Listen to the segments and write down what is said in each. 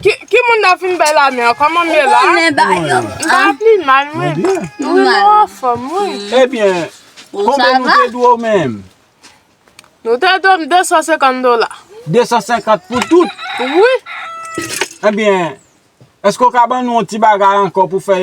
Ki moun nan fin bay lame an koman m ye la? M pa pli mal mwen. Mwen mwen anfom wi. Ebyen konbyen nou te dwe w menm? Nou te dwe m 250 dola. 250 pou tout? Wi. Ebyen eske w ka ban nou yon ti bagay anko pou fè.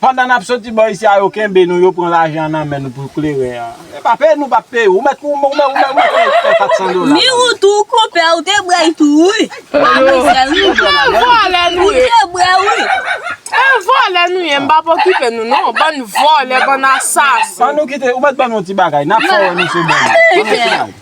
Pandan nap soti bò isi a yo kenbe nou yo pran lajan nan men nou pou klere a. Yo pa peye nou pa peye ou mèt ou mèt ou mèt peye 400 dola. Ni ou tou konpè ou te bwè itou wi. Mademoiselle wi. Bann vòlè nou ye. Ou te bwè wi. E vòlè nou ye m pap okipe nou non. Bann vòlè bann asasen. An nou kite ou mèt ban nou ti bagay nap fè wè nou se bon moun. An nou fè.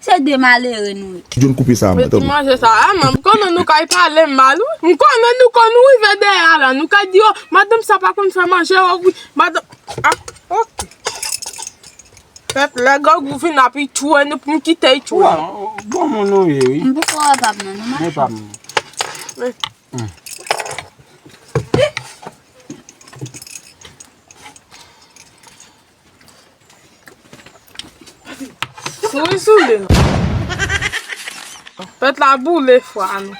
Se de malere nou ye. Kijan koupe sa a mwen tande. Mwen ti manje sa a, m konnen nou ka pale mal wi. M konnen nou konn rive dèyè a la, nou ka di oh madanm sa pa konn fè manje oh wi, madanm ah ok. Pèp lè grangou vin ap ichwe nou pou nou kite ichwe. Bon moun nou ye wi. M poko wè pa m nan non machan. Epa m. Souri souli nou. Pèt la boule fwa nou.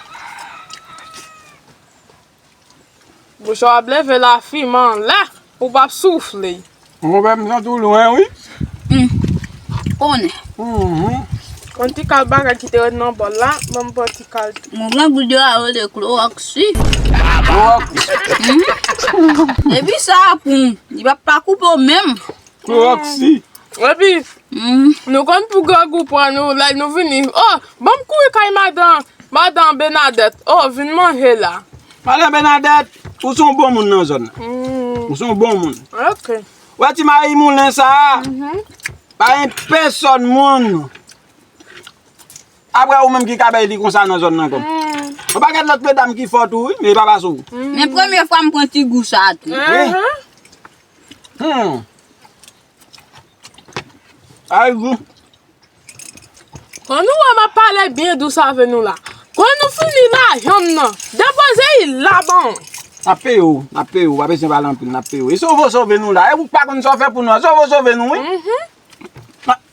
Bouchon ap leve la fi man la. Ou pap soufle. Mwen wè m santi w lwen wi. Konnen. Konnen. Yon ti kal bagay ki te ret nan bòl la. Ban m pran ti. Mwen gen gout yo a yo le klorox wi. Klorox? Humm. Epi sa a poum. Li pap pa koupe w menm. Klorox si. Epi. Humm. Nou konn pou grangou pran nou lè nou vini. Oh banm kouri kay madan. Madan Benadet. Oh vin manje la. Madan Benadet. Ou son bon moun nan zòn nan. Humm. Ou son bon moun. Ok. Ou wè ti mayi moulen sa a. Humm. Pa gen pèsòn moun. Aprè ou menm ki ka bay li konsa nan zòn nan kom. Yon paket lot medam ki fò tou wi men epa pase w. Men premye fwa m pran ti gou sa tou. Humm. Sa e gou. Kon nou wè map pale byen dous ave nou la. Kon nou fini lajan m nan. Depoze i la ban mwen. Nap peye w, nap peye w, pa bezwen pale anpil nap peye w. E sove w sove nou la. E ou k pa konn sa w fè pou nou an. Sove w sove nou wi.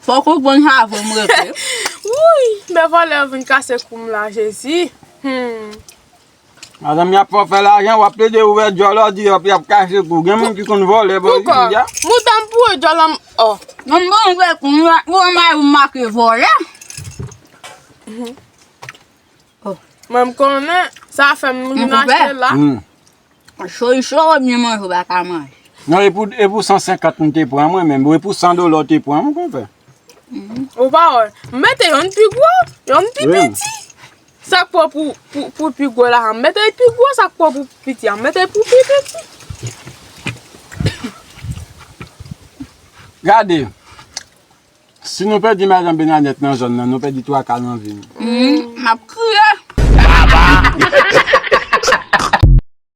Fok ou bon havre m rete. Wouyy men vòlè yo vin kase koum la jezi humm. Madanm yap fè w fè lajan wap plede ouvè dyòl ou di yap kase kou gen moun ki konn vòlè bon jodi a. Poukò? Mouda m pou ou dyòl la m oh. Bon m bon vre kou m la m wè mayou m make vòlè. Mwen m konnen sa fè m vin achte la. Cho li cho ou byen manje ou pa ka manje. Non e pou e pou 150 m te pran mwen menm, e pou 100 dola w te pran mwen konpè. Ou pa wè, m mete yonn pi gwo, yonn pi piti. Sa k pran pou pou pi gwo la a, m mete l pi gwo, sa k pran pou pi piti a, m mete l pou pi piti. Gade, si nou pèdi madan Benadèt nan zòn nan, nou pèdi twa ka nan vi nou. M ap kriye.